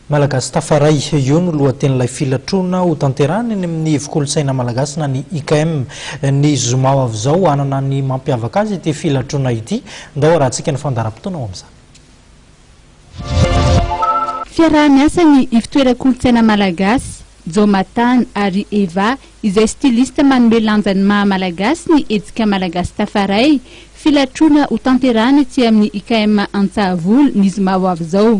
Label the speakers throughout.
Speaker 1: Malagasy tafaray, io no lohatenin'ilay filatroana ho tanterahina eny amin'ny Ivo-kolontsaina malagasy na ny IKM. Ny zoma ho avy izao, hanana ny mampiavaka azy ity filatroana ity. Ndao harahantsika ny fandaharam-potoana ho amin'izany.
Speaker 2: Fiaraha-miasa ny Ivotoeran-kolontsaina malagasy, Jaomatan ary Eva izay styliste manome lanja ny maha-malagasy ny hetsika Malagasy tafaray, filatroana ho tanterahina etsy amin'ny IKM Antsahavola ny zoma ho avy izao.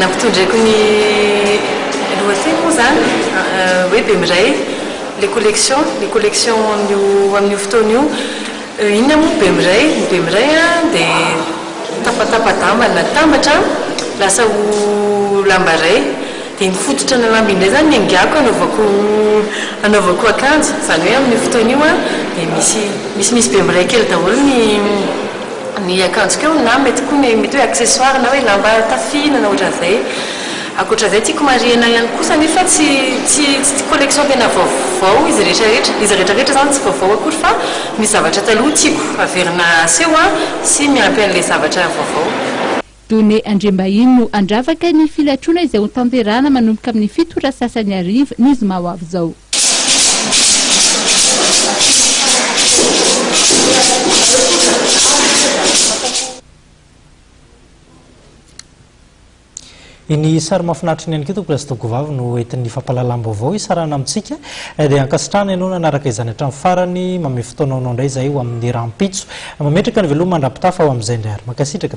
Speaker 2: Nampitondraiko
Speaker 3: ny lohateny moa izany hoe Bemiray, les collections, ny collection an'io amin'io fotoana io. Inona moa ny Bemiray? Ny Bemiray dia tapatapa-damba natambatra lasa ho lamba iray. Dia iny fototra ana lamba iny indray izany no engaiko hanaovako hanaovako akanjo. Izany hoe amin'io fotoana io dia misy misimisy Bemiray kely daholo ny ny akanjoko eo na mety koa ny mety hoe accessoire na hoe lamba tafihinana ohatran'izay. Ankoatra izay tiako marihina ihany kosa nefa tsy tsy tsy collection tena vaovao izy rehetrarehetra, izy rehetrarehetra izany tsy vaovao akory fa misy zavatra taloha tiako averina aseho sy miampy an'ilay zavatra vaovao. Données
Speaker 2: Andriambahiny no handravaka ny filatroana izay ho tanterahana manomboka amin'ny fito ora sy sasany hariva ny zoma ho avy izao.
Speaker 1: Iny sary mahafinaritra iny ihany koa Tompokolahy sy Tompkovavy no entin'ny fampahalalam-baovao hisarahana amintsika. Eh, dia ankasitrahana ianao nanaraka izany hatramin'ny farany. Mamehy fotoananao indray izahay ho amin'ny rahampitso. Mametraka ny veloma mandra-pitafa ho amin'izay indray ary. Mankasitraka